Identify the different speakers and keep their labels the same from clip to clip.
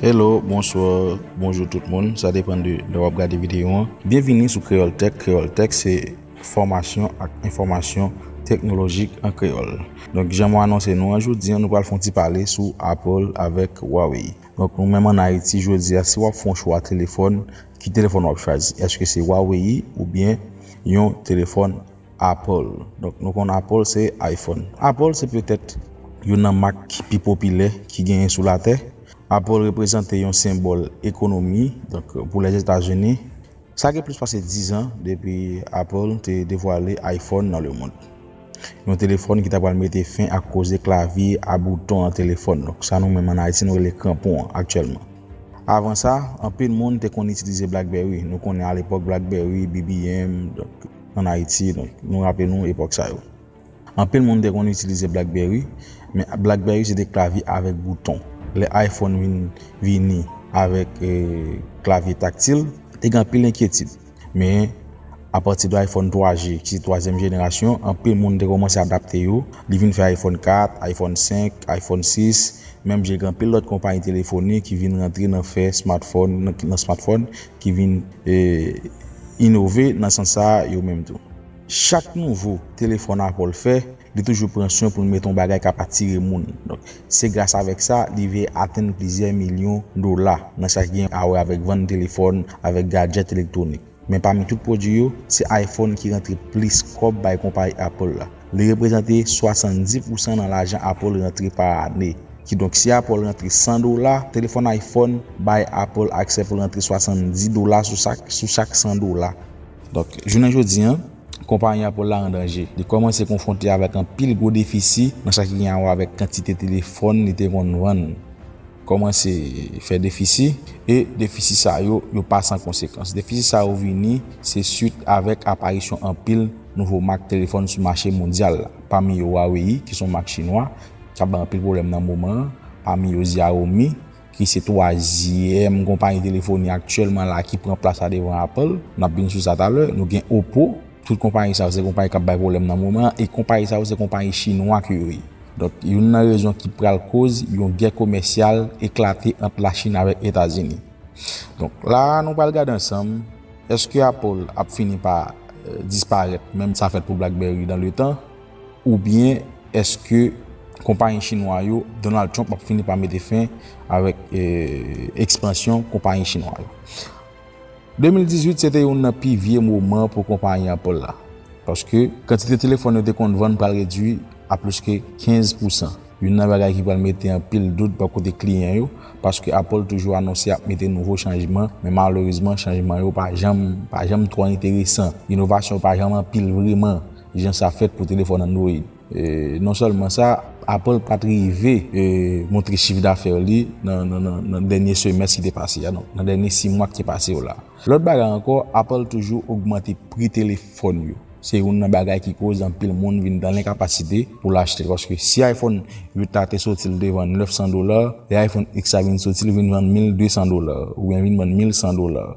Speaker 1: Hello, bonsoir, bonjour tout moun, sa depan de lè wap gade videyo an. Byenvini sou Kreyòl Tèk, Kreyòl Tèk se fòmasyon ak enfòmasyon teknolojik an kreyòl. Donk jan mwen anonse nou an jodi an nou pral fè yon ti pale sou Apple avèk Huawei. Donk nou menm an Ayiti jodi a si wap fè yon chwa telefòn, ki telefòn wap chwazi? Eske se Huawei oubyen yon telefòn Apple, donk nou konn Apple se iPhone. Apple se petèt youn nan mak ki pi popilè ki genyen sou latè. Apple reprezante yon senbòl ekonomi, donk pou Lèzetazini. Sa gen plis pase 10 an depi Apple te devwale iPhone nan lemond. Yon telefòn ki ta pral mete fen ak koze klavye a bouton nan telefòn, donk sa nou menm an Ayiti nou rele kranpon an aktyèlman. Avan sa, anpil moun te konn itilize Blackberry, nou konnen alepòk Blackberry, BBM, donk. ann Ayiti, donk nou raple nou epòk sa yo. Anpil moun te konn itilize Blackberry, men Blackberry se te klavye avèk bouton. Lè iPhone vin vini avèk klavye taktil, te gen anpil enkyetid. Men, apati de iPhone 3G, ki se twazyèm jenerasyon, anpil moun te kòmanse adapte yo, li vin fè iPhone 4, iPhone 5, iPhone 6, menm jan ak anpil lòt konpayi telefonik ki vin rantre nan fè smartphone, nan smartphone, Ki vin inove nan sans sa a yo menm tou. Chak nouvo telefòn Apple fè, li toujou pran swen pou l mete yon bagay k ap atire moun. Donk, se gras avèk sa, li rive atenn plizyè milyon dola nan sa ki gen awè avèk vann telefòn, avèk gadjèt elektwonik. Men pami tout pwodui yo, se iPhone ki rantre plis kòb bay konpayi Apple la. Li reprezante 70 pousan nan lajan Apple rantre pa ane. Kidonk si Apple rantre 100 dola, telefòn iPhone bay Apple aksè pou l rantre 70 dola sou chak 100 dola. Donk, jounen jodi an, konpayi Apple la an danje. Li kòmanse konfwonte avèk anpil gwo defisi nan sa ki gen awè avèk kantite telefòn li te konn vann. Kòmanse fè defisi, e defisi sa yo, yo pa san konsekans. Defisi sa yo vini se swit avèk aparisyon anpil nouvo mak telefòn sou mache mondyal la, pami yo Huawei ki se yon mak chinwa k ap bay anpil pwoblèm nan moman an, pami yo Xiaomi ki se twazyèm konpayi telefoni aktyèlman la ki pran plas la devan Apple, n ap vin sou sa talè, nou gen Oppo. Tout konpayi sa yo se konpayi kap bay pwoblèm nan moman an e konpayi sa yo se konpayi chinwa ke yo ye. Donk youn nan rezon ki pral koz yon gè komèsyal eklate ant la Chine avèk Etazini. Donk la a nou pral gade ansanm eske Apple ap fini pa disparèt menm sa fèt pou Blackberry dan le tan ou byen eske konpayi chinwa yo Donald Trump ap fini pa mete fen avèk ekspansyon konpayi chinwa yo. 2018 se te youn nan pi vye moman pou konpayi Apple la, paske kantite telefòn yo te konn vann pral redui a plis ke 15 pousan, youn nan bagay ki pral mete anpil dout bò kote kliyan yo, paske Apple toujou anonse ap mete nouvo chanjman, men malerezman chanjman yo pa janm pa janm twò enteresan, inovasyon pa janm anpil vreman jan sa fèt pou telefòn Android. Non sèlman sa, Apple pa t rive montre chif dafè li nan dènye semès ki te pase a, nan dènye si mwa ki te pase yo la. Lòt bagay ankò, Apple toujou ogmante pri telefòn yo. Se youn nan bagay ki koz anpil moun vin nan lenkapasite pou l achte l. Paske si iPhone 8 la te soti l te vann 900 dola, lè iPhone X la vin soti li vin vann 1200 dola, oubyen vin vann 1100 dola.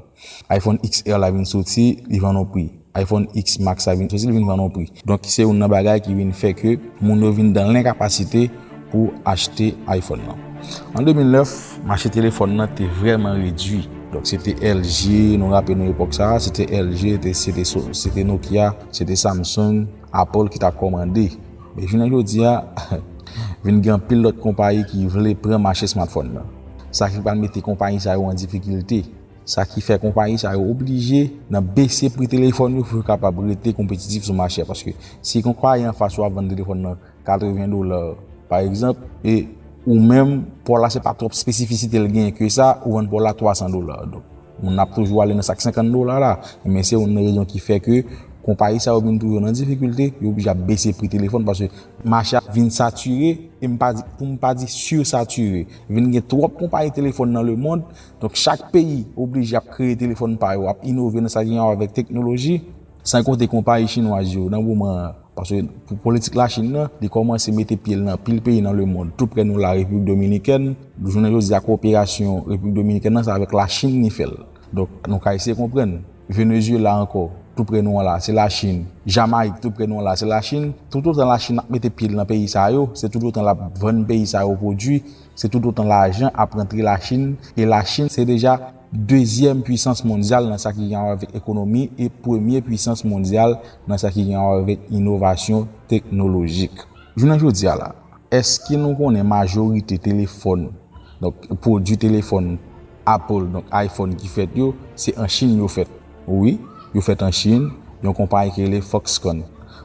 Speaker 1: iPhone XR la vin soti, li vann on pri. iPhone X Max la vin soti, li vin vann on pri. Donk se youn nan bagay ki vin fè ke moun yo vin dan lenkapasite pou achte iPhone lan. An 2009, mache telefòn lan te vrèman redui. Donk se te LG, nou raple nou epòk sa a, se te LG, se te Nokia, se te Samsung, Apple ki t ap kòmande. Men jounen jodi a, vin gen anpil lòt konpayi ki vle pran mache smartphone lan. Sa ki pral mete konpayi sa yo an difikilte. Sa ki fè konpayi sa yo oblije nan bese pri telefòn yo pou yo kapab rete konpetitif sou mache a. Paske si konpayi anfas ou ap vann telefòn nan 80 dola pa egzanp, e ou menm pa w la se pa twòp espesifisite l genyen ke sa, ou vann pa w la 300 dola. Donk moun nan ap toujou ale nan sa k 50 dola la. Enben se youn nan rezon ki fè ke konpayi sa yo vin toujou nan difikilte, yo oblije ap bese pri telefòn paske mache a vin satire, e m pa di, pou m pa di sirsatire. Vin gen twòp konpayi telefòn nan lemond, Donk chak peyi oblije ap kreye telefòn pa yo, ap inove nan sa gen awa avèk teknoloji, san konte konpayi chinwaz yo nan moman an, paske pou politik Lachin nan, li kòmanse mete pye l nan anpil peyi nan lemond, tou prè nou la Repiblik Dominikèn, jounen jodi a koperasyon Repiblik Dominikèn nan se avèk Lachin li fè l, donk nou ka eseye konprann, Venezyela ankò, tou prè nou an la, se Lachin, Jamayik tou prè nou an la, se Lachin, toutotan Lachin ap mete pye l nan peyi sa yo, se toutotan l ap vann peyi sa yo pwodui Se tout otan lajan ap rantre la Chine e la Chine se deja dezyèm pwisans mondyal nan sa ki gen a wè avèk ekonomi e premye pwisans mondyal nan sa ki gen a wè avèk inovasyon teknolojik. Jounen jodi a la, èske nou konnen majorite telefòn, donk pwodwi telefòn Apple, donk iPhone ki fèt yo, se an Chine yo fèt? Wi, yo fèt an Chinn, yon konpayi ki rele Foxconn.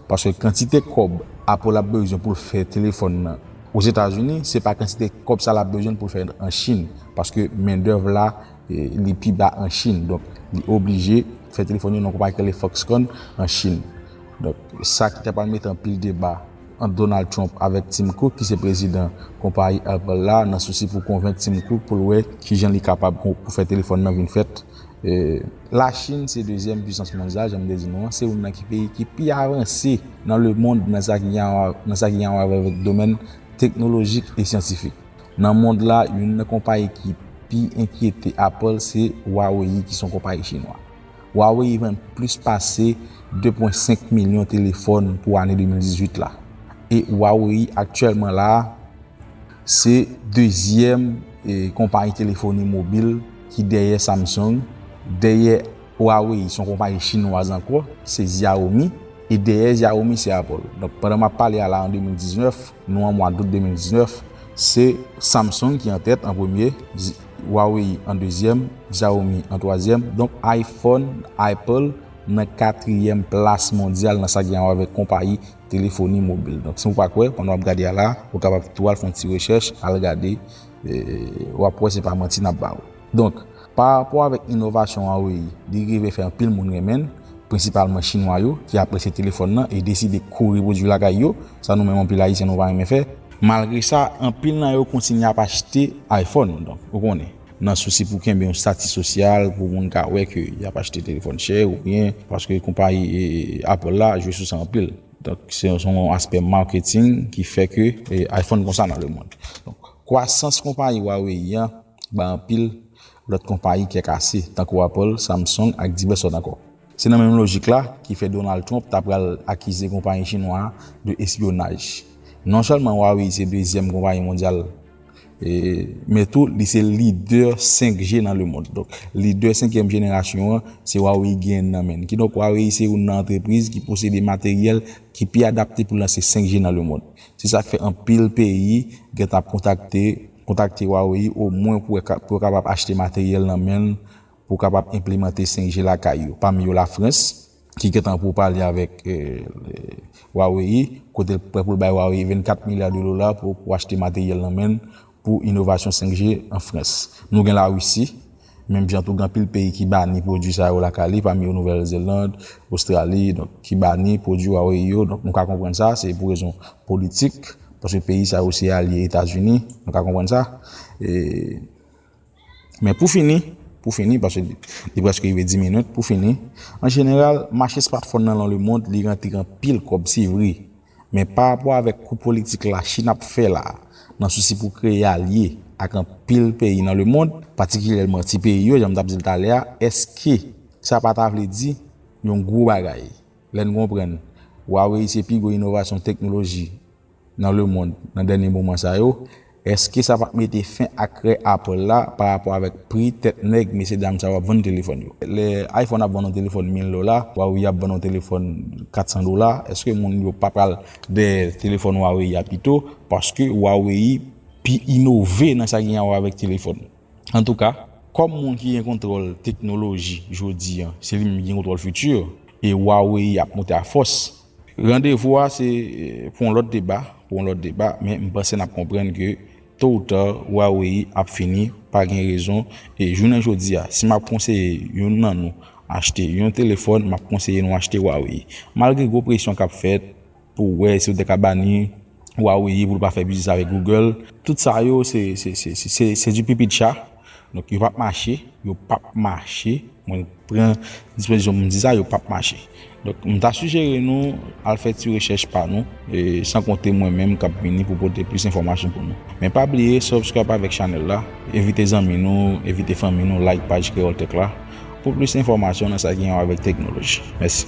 Speaker 1: Paske kantite kòb Apple ap bezwen pou l fè telefòn nan Ozetazini, se pa kantite kòb sa l ap bezwen pou l fè an Chinn. Paske mendèv la, li pi ba an Chinn. Donk, li oblije fè telefòn yo nan yon konpayi ki rele Foxconn an Chinn. Donk, sa ki ta pral mete anpil deba ant Donald Trump avèk Tim Cook ki se prezidan konpayi Apple la nan sousi pou konvenk Tim Cook pou l wè kijan li kapab pou fè telefòn nan vin fèt La Chine se dezyèm pwisans mondyal jan m te di nou an, se youn nan ki peyi ki pi avanse nan lemond nan sa ki gen anwa avèk domèn teknolojik e syantifik. Nan mond la, youn nan konpayi ki pi enkyete Apple se Huawei ki se yon konpayi chinwa. Huawei vann plis pase 2.5 milyon telefòn pou ane 2018 la e Huawei aktyèlman la Se dezyèm konpayi telefoni mobil ki dèyè Samsung, dèyè Huawei son konpayi chinwaz ankò ki se Xiaomi e dèyè Xiaomi se Apple. Donk pandan map pale a la an 2019, nou an mwa dout 2019, se Samsung ki an tèt an premye, Huawei an dezyèm, Xiaomi an twazyèm, donk iPhone, Apple, nan katriyèm plas mondyal nan sa ki gen a wè avèk konpayi telefoni mobil. Donk si ou pa kwè, pandan w ap gade a la, ou kapab tou al fè yon ti rechèch, al gade, w ap wè se pa manti n ap ba ou. Donk, parapò avèk inovasyon Huawei, li rive fè anpil moun renmen l, prensipalman Chinwa yo, ki apresye telefòn nan e deside kouri pwodui l lakay yo, sa nou menm anpil Ayisyen nou pa renmen fè. Malgre sa, anpil nan yo kontinye ap achte iPhone, donk, ou konnen. Nan sousi pou kenbe yon stati sosyal, pou moun ka wè ke y ap achte telefòn chè ou byen, paske konpayi Apple la jwe sou sa anpil. Donk, se yon aspè marketing ki fè ke iPhone konsa nan le mond. Donk, kwasans konpayi Huawei an bay anpil lòt konpayi kè kase, tankou Apple, Samsung ak divès lòt ankò. Se nan menm lojik la ki fè Donald Trump ta pral akize konpayi chinwa a de espyonaj. Non sèlman Huawei se dezyèm konpayi mondyal, Men tou, li se lidè 5G nan lemond. Donk, lidè senkyèm jenerasyon an, se Huawei genyen nan men. Kidonk, Huawei se youn nan antrepriz ki posede materyèl ki pi adapte pou lanse 5G nan lemond. Se sa k fè anpil peyi gen tan ap kontakte Huawei omwen pou yo kapab achte materyèl nan men l Pou kapab enplemante 5G lakay yo, pami yo Lafrans, ki gentan pou pale avèk Huawei, kote l prè pou l bay Huawei 24 milya de dola pou pou achte materyèl nan men l pou inovasyon 5G an Frans. Nou gen Larisi, menm jan tou gen anpil peyi ki bani pwodui sa yo lakay li, pami yo Nouvèl Zeland, Ostrali, donk ki bani pwodui Huawei yo, donk nou ka konprann sa, se pou rezon politik, paske peyi sa yo se alye Etazini, nou ka konprann sa. Men pou fini, pou fini, paske li preske rive 10 minit, pou fini, an jeneral, mache smartphone nan lan le mond, li rantre anpil kòb, se vre, men pa rapò avèk kou politik la Chine ap fè la, nan sousi pou kreye alye ak anpil peyi nan le mond, patikilyèlman ti peyi yo, jan m t ap di l talè a, èske sa pa ta vle di yon gwo bagay lè n konprann Huawei se pi gwo inovasyon teknoloji nan lemond nan dènye moman sa yo, èske sa pa t mete fen ak krè Apple la pa rapò avèk pri tèt nèg mesye dam sa yo ap vann telefòn yo? Lè iPhone ap vann yon telefòn 1000 dola, Huawei ap vann yon telefòn 400 dola, èske moun yo pa pral dèyè telefòn Huawei a pito paske Huawei pi inove nan sa ki gen awè avèk telefòn? Antouka, kòm moun ki gen kontwòl teknoloji jodi an, se li menm ki gen kontwòl fiti, e Huawei ap monte a fòs, Randevou a se pou yon lòt deba, pou yon lòt deba, men m panse n ap konprann ke to ou ta Huawei ap fini pa gen rezon e jounen jodi a si m ap konseye youn nan nou achte yon telefòn m ap konseye nou achte Huawei malgre gwo presyon k ap fèt pou wè si yo te ka bani Huawei pou l pa fè biznis avèk Google. Tout sa yo se di pipi di cha. Donk yo pap mache, yo pap mache, mwen pran dispozisyon pou m di sa, yo pap mache. Donk m ta sijere nou al fè ti rechèch pa nou, san konte mwen menm k ap vini pou pote plis enfòmasyon pou nou. Men pa bliye subscribe avèk chanèl la, envite zanmi nou, envite fanmi nou like paj Kreyòl Tech la pou plis enfòmasyon nan sa ki gen wè avèk teknoloji. Mèsi.